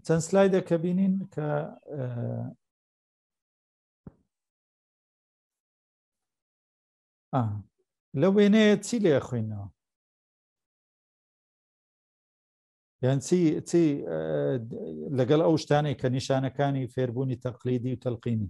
چەند سلایدە کە بینین کە لە وێنەیە چی لێ خوێنەوە یان چی چی لەگەڵ ئەو شتانێک کە نیشانەکانی فێربوونی تەقلیدی و تەلقینی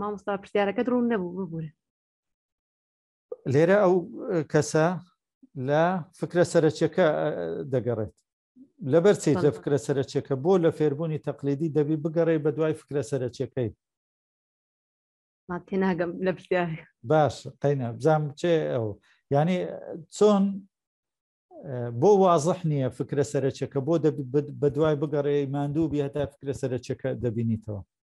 مامۆستا پرسیارەکەت ڕوون نەبوو ببوورە لێرە ئەو کەسە لە فکرە سەرچەکە دەگەڕێت لەبەر چیت لە فکرە سەرچەکە بۆ لە فێربوونی تەقلیدی دەبی بگەڕێ بە دوای فکرە سەرچەکەی تێناگەم لە باش قەینە بزانام چێ ئەو ینی چۆن بۆ وازح نییە فکرە سەرچەکە بۆ بە دوای بگەڕێ ماندوو بێ هەتا فکرە سەرچەکە دەبینیتەوە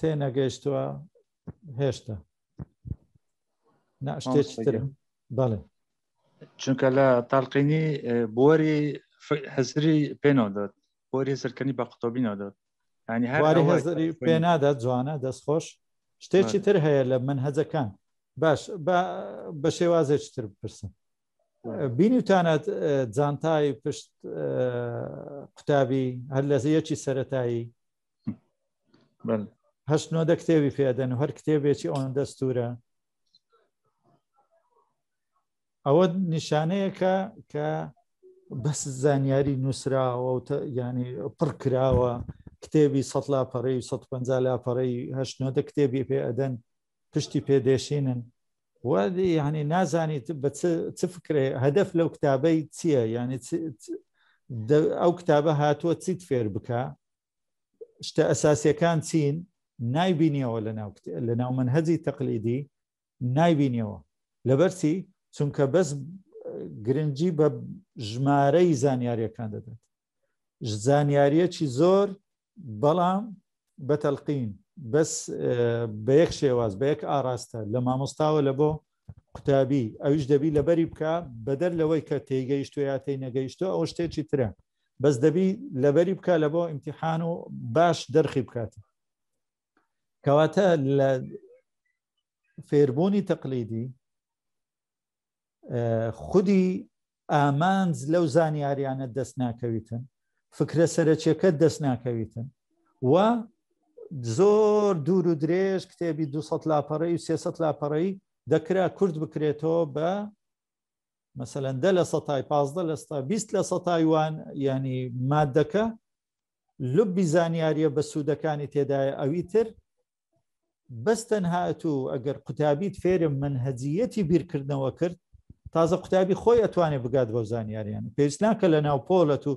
تێنەگەیشتووە هێشتا ناشتێتر بەڵێ چونکە لە تاالقینی بۆری هەزری پێنەوە دەت بۆری سەرکەنی بە قوتۆبینەوە دەت ینی هەری پێ نادات جوانە دەست خۆش شتێکی تر هەیە لە من هەزەکان باش بە شێوازێک تر بپرسم بینیوتانەت جانتای پشت قوتابی هەر لە زیەکی سەتایی هەشت نۆدە کتێبی پێدەن و هەر کتێبێکی ئەوەن دەستورە ئەوە نیشانەیەکە کە بەس زانیاری نووسراوە و ینی پڕ کراوە کتێبی سە لاپەڕی و 150 لاپەڕی هەشتنەوە کتێبی پێ ئەدەن پشتی پێدێشینن وادی یعنی نازانیت بە چ فکرێ هەدەف لەو کتابەی چییە یعنی ئەو کتابە هاتووە چیت فێر بکە شتە ئەساسیەکان چین نایبینیەوە لە ناو منهجی تەقلیدی نایبینیەوە لەبەرچی چونکە بەس گرنگجی بە ژمارەی زانیاریەکان دەدات زانیاریەکی زۆر بەڵام بە تەلقین بەس بە یەک شێواز بە یەک ئاراستە لە مامۆستاوە لە بۆ قوتابی ئەویش دەبی لەبەری بکە بەدەر لەوەی کە تێگەیشتو یا تی نەگەیشتو ئەو شتێکی ترە بەس دەبی لەبەری بکە لە بۆ ئیمتحان و باش دەرخی بکات کەواتە لە فێربوونی تەقلیدی خودی ئامانج لەو زانیاریانە دەست ناکەویتن فکرە سەرەکیەکە دەست ناکەویتن و زۆر دوور و درێژ کتێبی 200 لاپەڕی و 300 لاپەڕی دەکرا کورد بکرێتەوە بە مەسەەن دە لە سەتای پازدە لە ستا بیست لە سە تایوان ینی مادەکە لبی زانیاریە بە سوودەکانی تێدایە ئەوی تر بەس تەنهات و ئەگەر قوتابیت فێرم من هەجیەتی بیرکردنەوە کرد تازە قوتابی خۆی ئەتوانێت بگات بۆ زانیاریان پێویست ناکە لە ناو پۆلەت و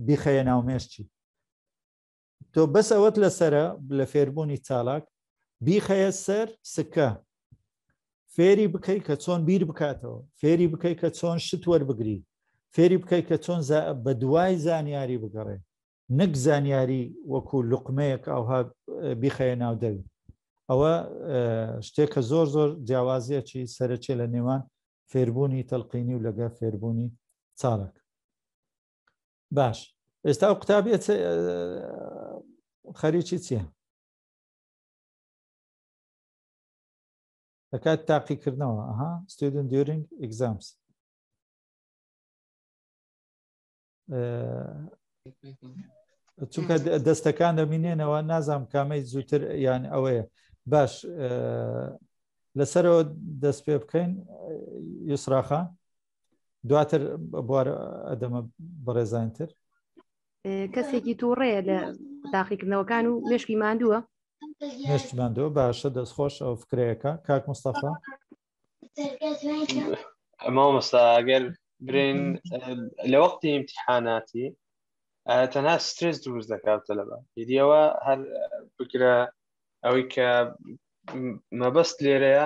بیخەیە ناو مێشتی تۆ بەس ئەوەت لەسرە لە فێربوونی چالاک بیخەیە سەر سکە فێری بکەی کە چۆن بیر بکاتەوە فێری بکەی کە چۆن شت وەربگری فێری بکەی کە چۆن بە دوای زانیاری بگەڕێ نەک زانیاری وەکو لقمەیەک ئاها بیخەیە ناو دەوی ئەوە شتێکە زۆر زۆر جیاوازیەکی سەرچێ لە نێوان فێربوونی تەلقینی و لەگە فێربوونی چاڵک باش ئێستا ئەو قوتابیە خەریکی چییە دەکات تاقیکردنەوە ئەها ستودن دیورنگ ئەگزامس چونکە دەستەکان دەمینێنەوە نازام کامەی زووتر یان ئەوەیە باش لەسەرەوە دەست پێ بکەین یوسراخان دواتر بوار ئەدەمە بەڕێزانتر کەسێکی تووڕەیە لە تاقیکردنەوەکان و مشکی ماندووە مشتی ماندووە باشە دەستخۆش ئەو فکرەیەەکە کاک مستەفا ئەمە مەستا ئەگەر برین لە وەختی امتحاناتی تەنها سترس دروست دەکات تەلەبە دیەوە هەر بکرە ئەوەی کە مەبەست لێرەیە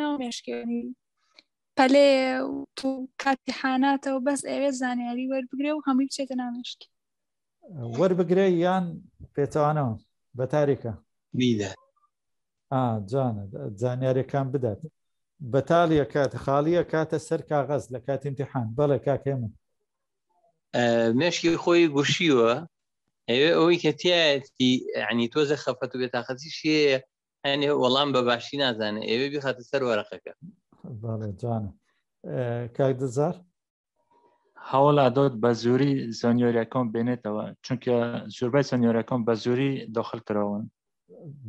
ناو مێشکێنی پەلێ تو کاتی حاناتەوە بەس ئەوێ زانیاری وەربگرێ و هەمووی بچێتە نامێشکی وەربگرێ یان پێچوانەوە بە تاریکە بیدە جانە زانیارەکان بدات بەتالیە کات خاڵیە کاتە سەر کاغەز لە کاتی امتحان بەڵێ کاکێ من مێشکی خۆی گوشیوە ئەوێ ئەوەی کە تایەتی عنی تۆزە خەفەت و بێتاقەتی شێ هەنێ وەڵام بە باشی نازانێ ئێوێ بخاتە سەر وەرەقەکە جانە کاک دزار هەوڵا دۆت بە زۆری زانیۆریەکەم بێنێتەوە چونکە زۆربای زانیۆرەکەم بە زۆری داخل کراون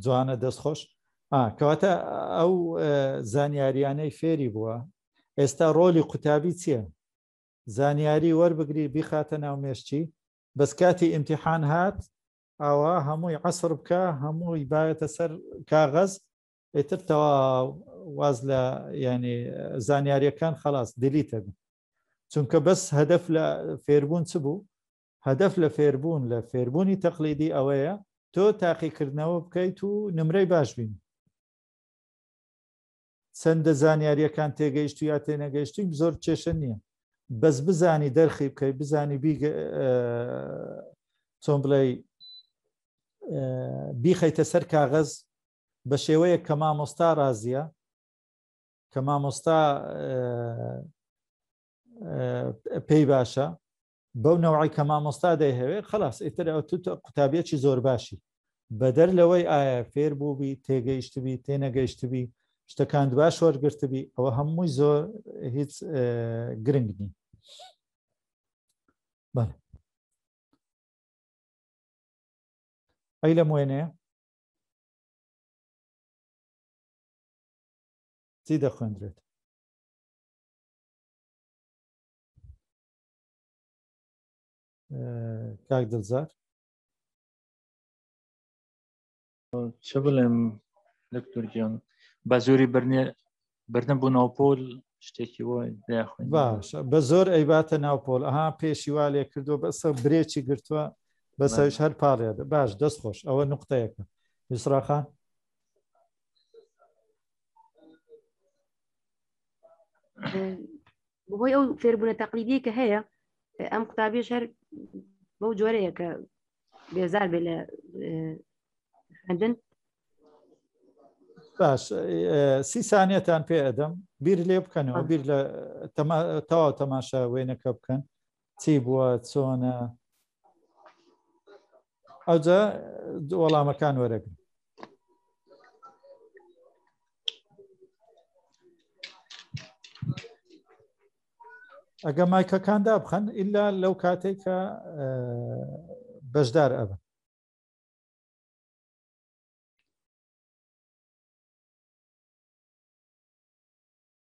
جوانە دەست خۆش کەواتە ئەو زانیاریانەی فێری بووە ئێستا ڕۆلی قوتابی چییە زانیاری وەربگری بیخاتە ناو مێشتی بەس کاتی ئیمتحان هات ئاوا هەمووی عسر بکە هەمووی باەتە سەر کاغەز ئیتر تەوا واز لە ینی زانیاریەکان خلاص دیلیتە بن چونکە بەس هەدەف لە فێربوون چ بوو هەدەف لە فێربوون لە فێربوونی تەقلیدی ئەوەیە تۆ تاقیکردنەوە بکەیت و نمرەی باش بین چەندە زانیاریەکان تێگەیشت و یا تێنەگەیشتیم زۆر کێشە نییە بەس بزانی دەرخی بکەی بزانی چۆن بڵێ بیخەیتە سەر کاغەز بە شێوەیە کە مامۆستا رازیە کە مامۆستا پێی باشە بەو نەوعی کە مامۆستا دەیهەوێ خلاص ئیتر ئەو تو قوتابیەکی زۆر باشی بەدەر لەوەی ئایا فێر بووبی تێگەیشتبی تێنەگەیشتبی شتەکان باش وەرگرتبی ئەوە هەمووی زۆر هیچ گرنگ نی بەڵێ ئەی لە موێنێ چی دەخوێندرێت کاک دڵزار چ بڵێم دکتور گیان بە زۆری برنێ بردن بوو ناوپۆل شتێکی وای داخوێن باش بە زۆر ئەیباتە ناوپۆل ئەها پێشی وا لێ کردو بەسە برێکی گرتووە بەسەویش هەر پاڵێ باش دەست خۆش ئەوە نقطەیەەکە یسراخان بەهۆی ئەو فێربوونە تەقلیدی کە هەیە ئەم قوتابیش هەر بەو جۆرەیە کە بێزار بێ لە خوێندن باش سی سانیەتان پێ ئەدەم بیر لێ بکەنەوە بیر لە تەوا تەماشا وێنەکە بکەن چی بووە چۆنە ئەوجا وەڵامەکان وەرەگرن ئەگە مایکەکان دابخەن ئللا لەو کاتێک کە بەشدار ئەبن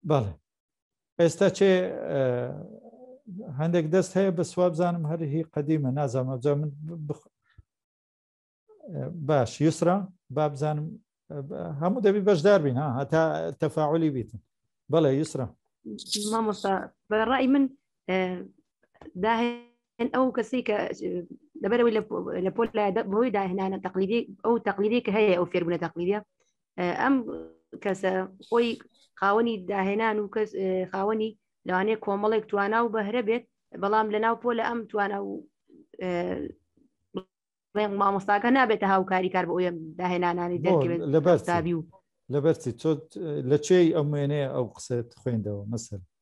بەڵێ ئێستا چێ هەندێک دەست هەیە بە سوابزانم هەر هی قەدیمە نازانم ئەبزان من باش یوسرا بابزانم هەموو دەبی بەشدار بین ها هەتا تەفاعلی بیتن بەڵێ یوسرا مامۆستا بەڕای من داهێن ئەو کەسی کە لەبەرەوەی لە پۆل بەهۆی داهێنانە تەقلیدی ئەو تەقلیدی کە هەیە ئەو فێربوونە تەقلیدە ئەم کەسە خۆی خاوەنی داهێنان و کەس خاوەنی لەوانێ کۆمەڵێک توانا و بەهرە بێت بەڵام لە ناو پۆ لە ئەم توانا و مامۆستاکە نابێتە هاوکاری کار بۆ ئەوە داهێنانانی دەکرێت لەبەرتابی و لەبەرچی تۆ لە چێی ئەم وێنەیە ئەو قسەت خوێندەوە مەسەر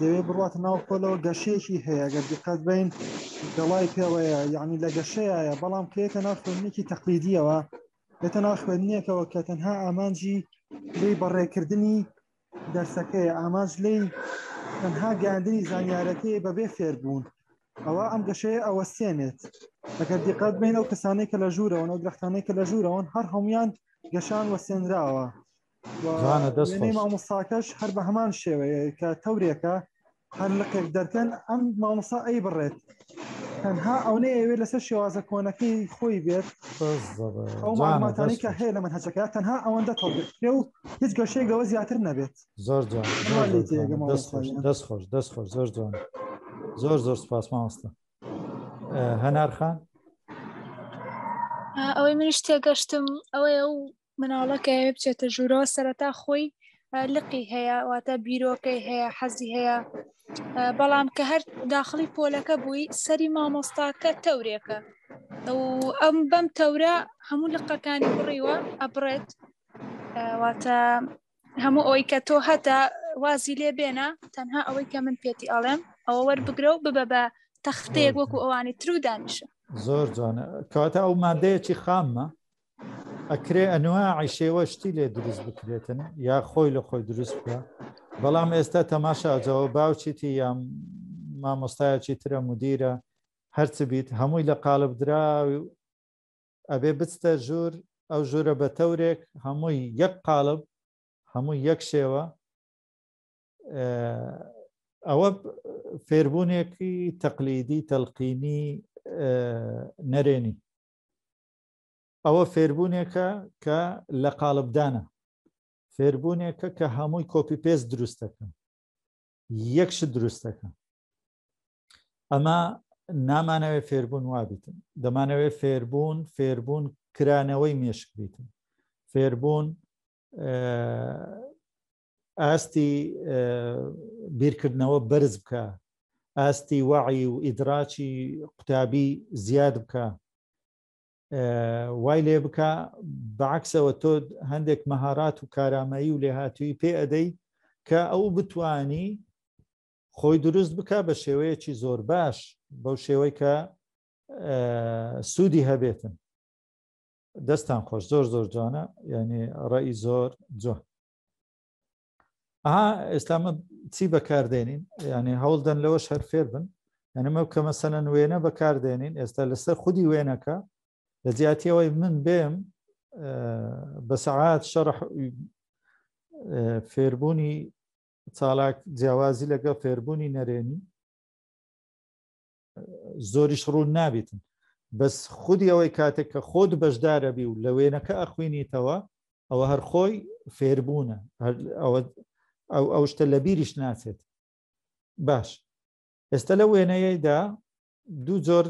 دەوێ بڕاتە ناو پۆلەوە گەشەیەکی هەیە گە دقەت بین دەڵای پێوەیە یعنی لە گەشەیە بەڵام کێتە ناو خوێنێکی تەقلیدیەوە لێتە ناو خوێندنێکەوە کە تەنها ئامانجی لی بەڕێکردنی دەرسەکەی ئامانج لی تەنها گەاندنی زانیارەکەی بەبێ فێربوون ئەوە ئەم گەشەیە ئەوە سێنێت ئەگەر دیقەت بین ئەو کەسانەی کە لە ژوورەوەن ئەو درختانەی کە لە ژوورەوەن هەر هەمویان گەشان وە سێنراوە مامۆستاکەش هەر بە هەمان شێوەیە کە تەورێکە هەر لەقێک دەرکەن ئەم مامۆستا ئەی بڕێت تەنها ئەونەی ئەوێت لەسەر شێوازە کۆنەکەی خۆی بێت ئەو ماماتانی کە هەیە لە من هەچەکە تەنها ئەوەندە تەڵێت پێ و هیچ گەشەیە گەوە زیاتر نەبێت زۆر دەست خۆش دەست خۆش دەست خۆش زۆر جوان زۆر زۆر سپاس مامۆستا هەنارخان ئەوەی منیش تێگەشتم ئەوەیە و مناڵەکە ئەوێ بچێتە ژوورەوە سەرەتا خۆی لقی هەیە واتە بیرۆکەی هەیە حەزی هەیە بەڵام کە هەر داخلی پۆلەکە بووی سەری مامۆستاکە تەورێکە ئەم بەم تەورە هەموو لقەکانی بڕیوە ئەبڕێت واتە هەموو ئەوی کە تۆ هەتا وازی لێ بێنە تەنها ئەوەی کە من پێتی ئەڵێم ئەوە وەربگرە و ببە بە تەختەیەک وەکو ئەوانی تر و دانیشە زۆر جوانە کەواتە ئەو مادەیەکی خاممە ئەکرێ ئەنواعی شێوە شتی لێ دروست بکرێتن یا خۆی لە خۆی دروست بکە بەڵام ئێستا تەماشا ئەجەوە باوچیتی یا مامۆستایەکی ترە مدیرە هەرچ بیت هەمووی لە قالب دراوی ئەبێ بچتە ژوور ئەو ژوورە بە تەورێک هەمووی یەک قالب هەموو یەک شێوە ئەوە فێربوونێکی تەقلیدی تەلقینی نەرێنی ئەوە فێربوونێکە کە لە قالبدانە فێربوونێکە کە هەمووی کۆپی پێس دروستەکە یەکش دروستەکە ئەمە نامانەوێ فێربوون وابیتن دەمانەوێ فێربوون فێربوون کرانەوەی مێشک بیتن فێربوون ئاستی بیرکردنەوە بەرز بکە ئاستی وعی و ئیدراچی قوتابی زیاد بکە وای لێ بکە بەعکسەوە تۆ هەندێک مەهارات و کارامایی و لێهاتووی پێ ئەدەی کە ئەو بتانی خۆی دروست بکە بە شێوەیەکی زۆر باش بەو شێوەی کە سوودی هەبێتن دەستان خۆش زۆر زۆر جوانە یعنی ڕێی زۆر جوان ئێستامە چی بەکاردێنین یعنی هەوڵدەن لەوە شەر فێر بن یعنیمە کە مەسەنەن وێنە بەکاردێنین ئێستا لەسەر خودی وێنەکە لە جیاتیەوەی من بێم بە سەعات شەڕح فێربوونی چالاک جیاوازی لەگەڵ فێربوونی نەرێنی زۆریش ڕوون نابێتن بەس خودی ئەوەی کاتێک کە خۆت بەشدارەبی و لە وێنەکە ئەخوێنیتەوە ئەوە هەر خۆی فێربوونە ئەو ئەو شتە لە بیریش ناچێت باش ئێستا لە وێنەیەدا دوو جۆر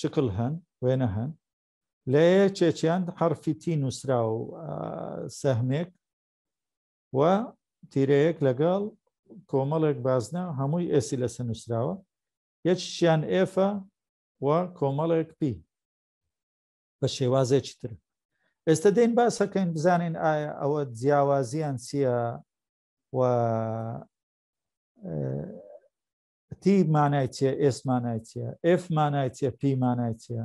شکل هەن وێنە هەن لە چێچیان حرفی تی نووسرا و سەهمێک و تیرەیەک لەگەڵ کۆمەڵێک بازنە هەمووی ئێسی لەسە نووسراوە یەکیان ئێفە و کۆمەڵێک پی بە شێوازێکی تر ئێستا دەین باسەکەین بزانین ئایا ئەوە جیاوازیان چییە و تی مانای چیە ئێسمانای چیە ئف مانای چیە پیمانای چیە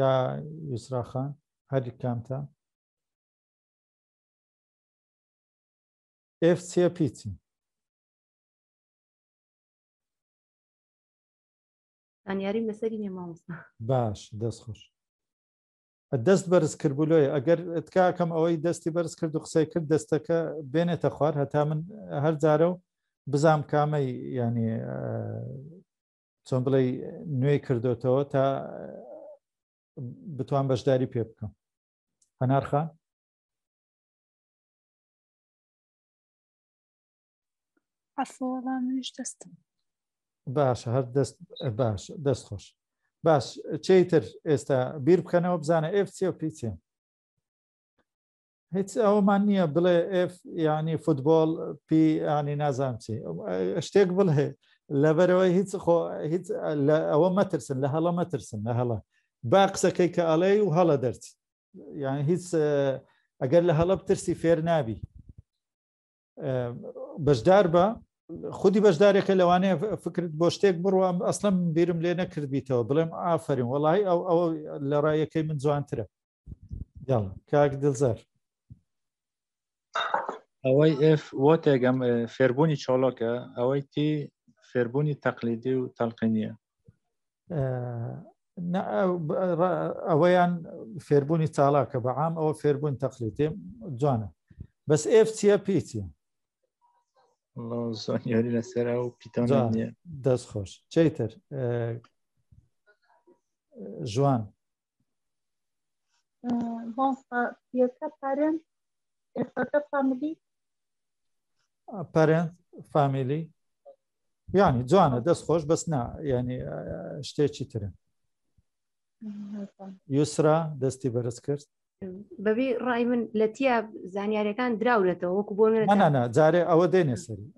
یا یسراخان هەر کامتە ئف سێ پیچی زانیاریم لەسەری نیە مامۆستا باش دەست خۆش دەست بەرز کردبوولۆی ئەگەر تکاکەم ئەوەی دەستی بەرز کرد و قسەی کرد دەستەکە بێنێتە خوار هەتا من هەر جارە و بزام کامەی ینی چۆن بڵێ نوێی کردوتەوە تا بتوان بەشداری پێ بکەم هەنارخان ئەفۆڵانش دەستم باش هەر دەست باش دەست خۆش باش چیتر ئێستا بیر بکەنەوە بزانە ئێف چیە پیچێن هیچ ئەومان نییە بڵێ ئف ینی فوتبۆل پی ینی نازانچی شتێک بڵێ لەبەرەوەی هیچ خۆ هیچ لە ئەوە مەترسن لە هەڵە مەترسن لە هەڵە با قسەکەی کە ئەڵێ و هەڵە دەرچی یان هیچ ئەگەر لە هەڵە ترسی فێر نابی بەشدار بە خودی بەشدارێکە لەوانەیە فکرت بۆ شتێک بڕوە ئەسلم بیرم لێ نەکردبییتەوە بڵێم ئافرین وڵی ئەو ئەو لە ڕایەکەی من جوانترە یاڵ کاک دڵزار ئەوەی ئف بۆ تێگەم فێربوونی چۆڵۆکە ئەوەی تی فێربوونی تەقلیدی و تەلقینیە ئەوەیان فێربوونی تاڵاکە بە عام ئەوە فێربوون تەقلی تێم جوانە بەس ئف چیە پیچە زۆنیاری لەسەر و پیتان دەست خۆش چیتر ژوان مامۆستا فیەکە پارێن ئێفەکە فامیلی پارێن فامیلی یعنی جوانە دەست خۆش بەس نا ینی شتێکی ترن یوسرا دەستی بەرز کرد بەبی ڕای من لە تیا زانیارەکان دراورێتەوە وەکو بۆ منە جارێ ئەوە دێنێ سەری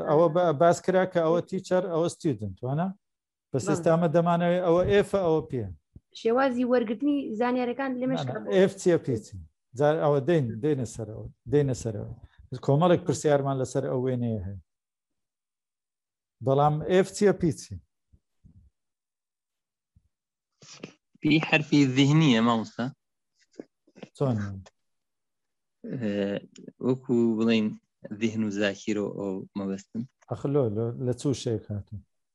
ئەوە باس کرا کە ئەوە تیچەر ئەوە ستیدنت وانە بە سستامە دەمانەوەی ئەوە ئێفە ئەوە پێ شێوازی وەرگرتنی زانیارەکان لەمەش ئف چیە پیچن جار ئەوە دەین دێنە سەرەوە دێنە سەرەوە کۆمەڵێک پرسیارمان لەسەر ئەو وێنەیە هەیە بەڵام ئف چیە پیچی پێی حرفی ذهنیە مامۆستا چۆن وەکو بڵین ذهن و زاکیرۆ ئەو مەبەستن ئەخلۆ لە چوو شێک هاتون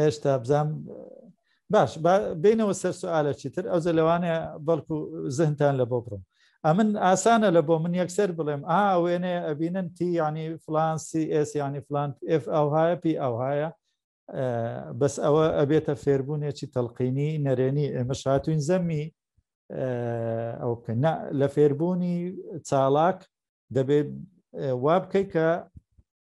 هێشتا بزانم باش بینەوە سەر سوالە چیتر ئەو جە لەوانە بەڵکو زهنتان لە بۆ بڕم ئەمن ئاسانە لە بۆ من یەکسەر بڵێم ئا وێنێ ئەبینن تی ینی فلان CS ینی فلان F ئەوهایە پی ئەوهایە بەس ئەوە ئەبێتە فێربوونێکی تەلقینی نەرێنی ئێمە شاتوین زەمی ئەو بکەن لە فێربوونی چاڵاک دەبێت وا بکەیت کە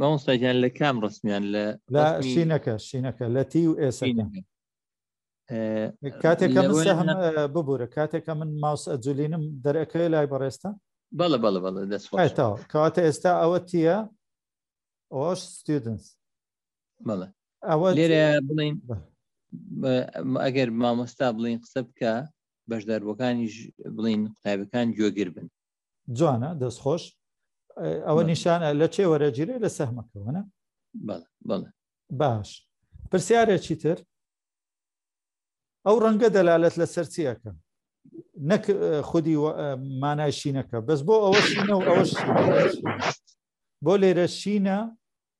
مامۆستاگیان لە کام ڕستمیان لە شینەکە شینەکە لە تی و ئێسە کاتێکە ببوورە کاتێکە من ماوس ئەجولینم دەرەکەی لای بەڕێستا بەڵە بەڵە بەڵە دەستەوە کاتە ئێستا ئەوە تیە ئەوش ستودنس بەڵە ئەوە لێرە بڵین ئەگەر مامۆستا بڵین قسە بکە بەشداربووەکانیش بڵین قوتابەکان گوێگر بن جوانە دەست خۆش ئەوە نیشان لە چێ وەرەگیرێ لە سەهمەکەوەە باش پرسیارێکی تر ئەو ڕەنگە دەلالت لە سەرچیەکە نەک خودی مانای شینەکە بەس بۆ ئەوە شینە و ئەوە بۆ لێرە شینە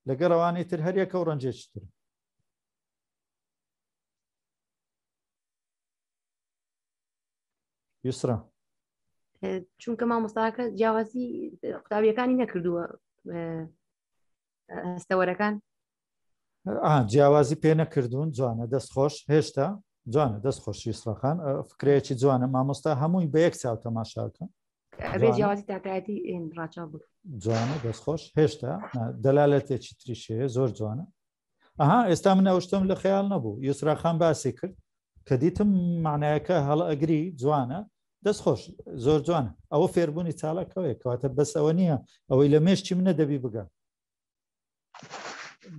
لەگە ڕەوانەی تر هەریەکە و ڕەنجێکی تر یسرا چونکە مامۆستاکە جیاوازی قوتابیەکانی نەکردووە هەستەوەرەکان جیاوازی پێ نەکردوون جوانە دەست خۆش هێشتا جوانە دەست خۆشی سڕخان فکرەیەکی جوانە مامۆستا هەمووی بە یەک چاو تەماشاکە جوانە دەست خۆش هێشتا دەلالەتێکی تریشەیە زۆر جوانە ئەها ئێستا من ئەوشتم لە خەیاڵ نەبوو یسراخان باسی کرد کە دیتم معنایەکە هەڵ ئەگری جوانە دەست خۆش زۆر جوان ئەوە فێربوونی چاڵەکەوەیە کەواتە بەس ئەوە نییە ئەوەی لە مێشتی منە دەبی بگە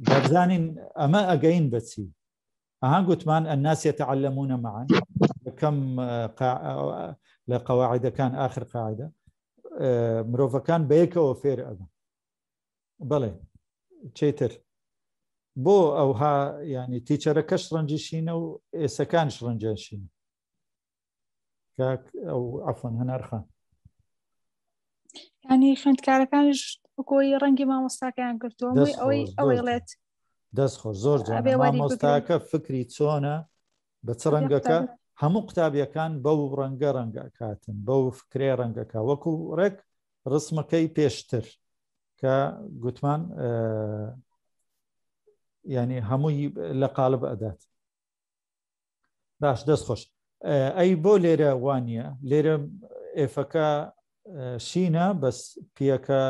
دەبزانین ئەمە ئەگەین بەچی ئەها گوتمان ئەناسیە تەعلمونە معان کەم لە قەواعدەکان آخر قاعدە مرۆڤەکان بەیەکەوە فێر ئەبن بەڵێ چیتر بۆ ئەوها ینی تیچەرەکەش ڕەنجی شینە و ئێسەکانش ڕەنجیان شینە کاک ئەو ئەفۆن هەنارخان ینی خوێندکارەکانش بکۆی ڕەنگی مامۆستاکەیان گرتووە ئەوەی ئەوەی ڵێت دەست خۆش زۆر جوێ مامۆستاکە فکری چۆنە بە چ ڕەنگەکە هەموو قوتابیەکان بەو ڕەنگە ڕەنگە کاتن بەو فکرێ ڕەنگەکە وەکو ڕێک ڕسمەکەی پێشتر کە گوتمان ینی هەمووی لە قالب ئەدات باش دەست خۆش ئەی بۆ لێرە وانە لێرە ئێفەکە شینە بەس پیەکە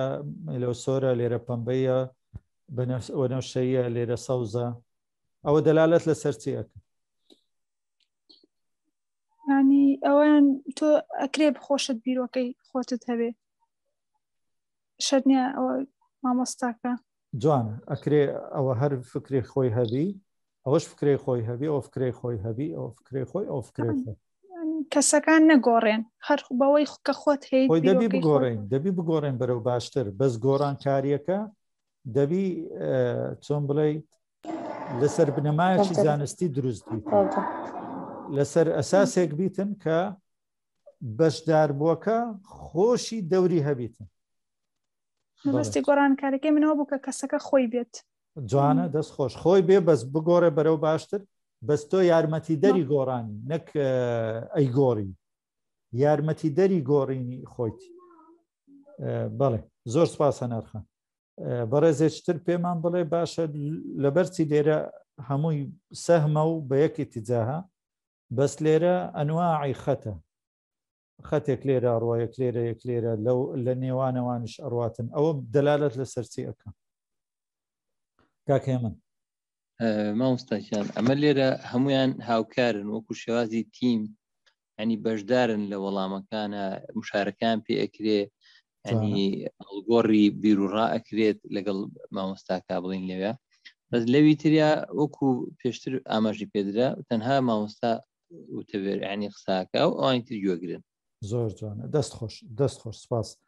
لەو سۆرە لێرە پەمبەیە بەنەوشەیە لێرە سەوزە ئەوە دەلالەت لەسەر چی ئەکە ینی ئەویان تۆ ئەکرێ بخۆشت بیرۆکەی خۆتت هەبێ شەرنیە ئەوە مامۆستاکە جوان ئەکرێ ئەوە هەر فکری خۆی هەبی ئەوەش فکری خۆی هەبی ئەو فکری خۆی هەبی ئەو فکری خۆی ئەو فکری خۆی کەسەکان نەگۆڕێن هەر بەوەی کە خۆت هەیە دەبی بگۆڕین دەبی بگۆڕێن بەرەو باشتر بەس گۆڕانکاریەکە دەبی چۆن بڵیت لەسەر بنەمایەکی زانستی دروست بیت لەسەر ئەساسێک بیتن کە بەشداربووەکە خۆشی دەوری هەبیتن بەستی گۆڕانکارەکەی منەوە بوو کە کەسەکە خۆی بێت جوانە دەست خۆش خۆی بێ بەس بگۆڕێ بەرەو باشتر بەس تۆ یارمەتی دەری گۆڕانی نەک ئەی گۆڕی یارمەتی دەری گۆڕینی خۆیتی بەڵێ زۆر سپاسە نرخە بەڕێزێچتر پێمان بڵێ باشە لەبەرچی لێرە هەمووی سەهمە و بە یەکی تجاها بەس لێرە ئەنواعی خەتە خەتێک لێرە ڕۆیەک لێرە یەک لێرە لەو لە نێوانەوانش ئەڕاتن ئەوە دەلالت لە سەرچی ئەەکە کاکێ من مامۆستاکیان ئەمە لێرە هەمویان هاوکارن وەکو شێوازی تیم ینی بەشدارن لە وەڵامەکانە مشارەکان پێ ئەکرێ ینی گۆڕی بیرروڕا ئەکرێت لەگەڵ مامۆستاکە بڵین لەوێ بەس لەوی تریا وەکو پێشتر ئاماژی پێدرا تەنها مامۆستا وتەبێر ینی قساکە و ئەوانی تر گوێگرن زۆر جوانە دەست خۆش دەست خۆش سپاس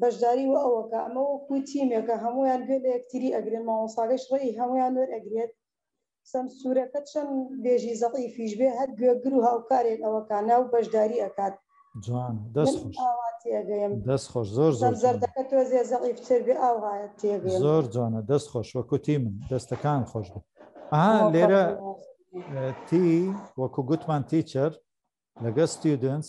بەشداری وە ئەوەکا ئەمە وەکو تیمێکە هەموویان گوێ لە یەکتری ئەگرن مامۆستاکەش ڕێی هەموویان وەر ئەگرێت سەمسورەکە چەن بێژی زەعیفیش بێ هەر گوێگر و هاوکارێک ئەوەکا ناو بەشداری ئەکات جوانە دەست خۆش من ئاوا تێگەیم دەست خۆش زۆر زۆر جوانە سەمزەردەکە تۆزێ زەعیف تر بێ ئاوا تێگەیم زۆر جوانە دەست خۆش وەکو تیمن دەستەکان خۆش بێ ئەها لێرە تی وەکو گوتمان تیچەر لەگە ستیودنس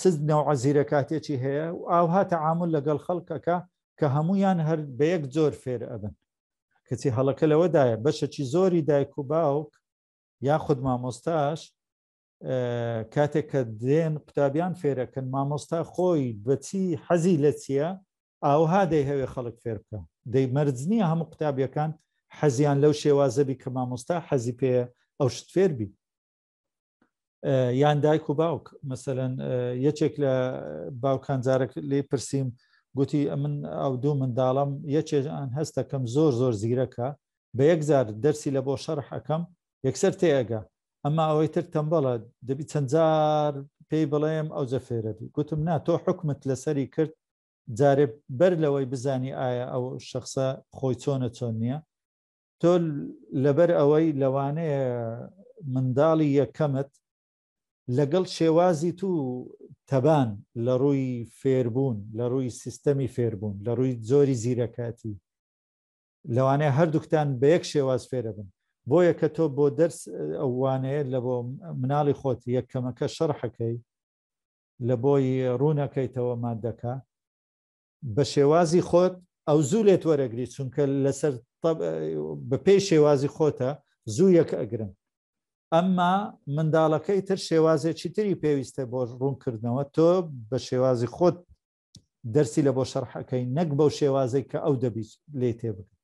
چ نەوعە زیرەکاتێکی هەیە و ئاوها تەعامل لەگەڵ خەڵکەکە کە هەمویان هەر بە یەک جۆر فێر ئەبن کەچی هەڵەکە لەوەدایە بەشەکی زۆری دایک و باوک یاخود مامۆستاش کاتێک کە دێن قوتابیان فێرەکەن مامۆستا خۆی بەچی حەزی لە چییە ئاوها دەی هەوێ خەڵک فێر بکە دەی مەرج نییە هەموو قوتابیەکان حەزیان لەو شێوازەبی کە مامۆستا حەزی پێ ئەو شت فێربی یان دایک و باوک مەسەەن یەکێک لە باوکان جارێک لێ پرسییم گوتی ئەمن ئەو دوو منداڵم یەکێژان هەستەکەم زۆر زۆر زیرەکە بە یەکجار دەرسی لە بۆ شەرح ئەەکەم یەکسەر تێگە ئەمە ئەوەی تر تەمبەڵە دەبی چەندجار پێی بڵێم ئەو جەفێرەبی گوتم نا تۆ حکومت لەسەری کرد جارێ بەر لەوەی بزانی ئایا ئەو شخصە خۆی چۆنە چۆن نییە تۆ لەبەر ئەوەی لەوانەیە منداڵی یەکەمت لەگەڵ شێوازی تو تەبان لە ڕووی فێربوون لە ڕووی سیستەمی فێربوون لە ڕووی زۆری زیرەکەتی لەوانەیە هەردووکتان بە یەک شێواز فێرە بن بۆیە کە تۆ بۆ دەرس ئەوانەیە لە بۆ مناڵی خۆت یەکەمەکە شەڕحەکەی لە بۆی ڕوونەکەیتەوە مادەکە بەشێوازی خۆت ئەو زوو لێت وەرەگری چونکە لەسەر بەپێی شێوازی خۆتە زوو یەک ئەگرن ئەمما منداڵەکەی تر شێوازێکی تری پێویستە بۆ ڕوونکردنەوە تۆ بە شێوازی خۆت دەرسی لە بۆ شەرحەکەی نەک بەو شێوازێک کە ئەو دەبیت لێ تێبگە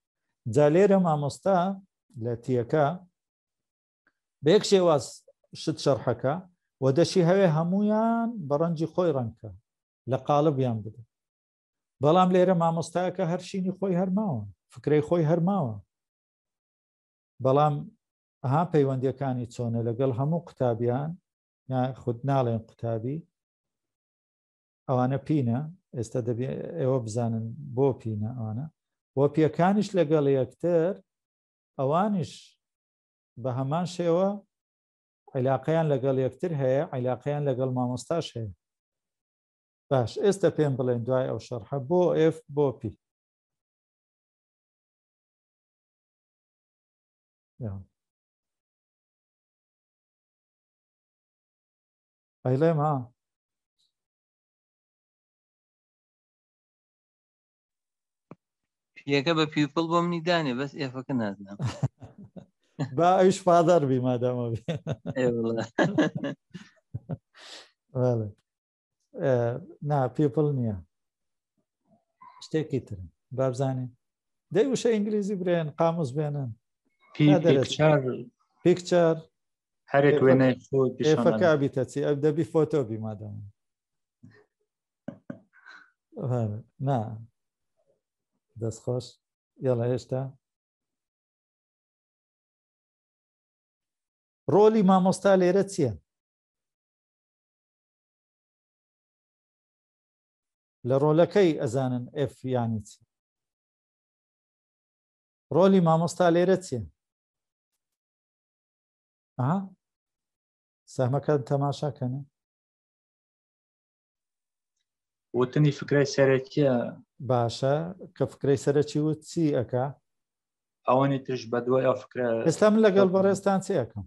جا لێرە مامۆستا لە تیەکە بێک شێواز شت شەرحەکە و دەشی هەوێ هەمویان بە ڕەنجی خۆی ڕەنکە لە قالبیان بدە بەڵام لێرە مامۆستاکە هەرشینی خۆی هەرماوە فکرەی خۆی هەرماوە بەڵام ئەها پەیوەندیەکانی چۆنە لەگەڵ هەموو قوتابیان خود ناڵێن قوتابی ئەوانە پینە ئێستا دەبێ ئێوە بزانن بۆ پینە ئەوانە بۆ پێەکانیش لەگەڵ یەکتر ئەوانیش بە هەمان شێوە عیلاقەیان لەگەڵ یەکتر هەیە عیلاقەیان لەگەڵ مامۆستاش هەیە باش ئێستا پێم بڵێن دوای ئەو شەرحە بۆ ئف بۆ پی ئەیڵێم ها پیەکە بە پیپڵ بۆ منی دانێ بەس ئێفەکە نازنم با ئەوش پادار بی مادامە نا پیپڵ نییە شتێکی ترن بابزانێ دەی وشە ئینگلیزی برێن قاموس بێنن پیکچار هەرێک وێنەی خۆ ئێفەکە بیتەچی ئەو دەبی فۆتۆ بی مادامە نا دەست خۆش یاڵە هێشتا ڕۆلی مامۆستا لێرە چییە لە ڕۆلەکەی ئەزانن ئف یانی چی ڕۆلی مامۆستا لێرە چیە سەمەکە تەماشاکەنە وتنی فکرای سەرەکیە باشە کە فکرەی سەرەکی وت چی ئەکا ئەوانی ترش بە دوای ئەو فکرە ئێستا من لەگەڵ بەڕێستان چی ئەەکەم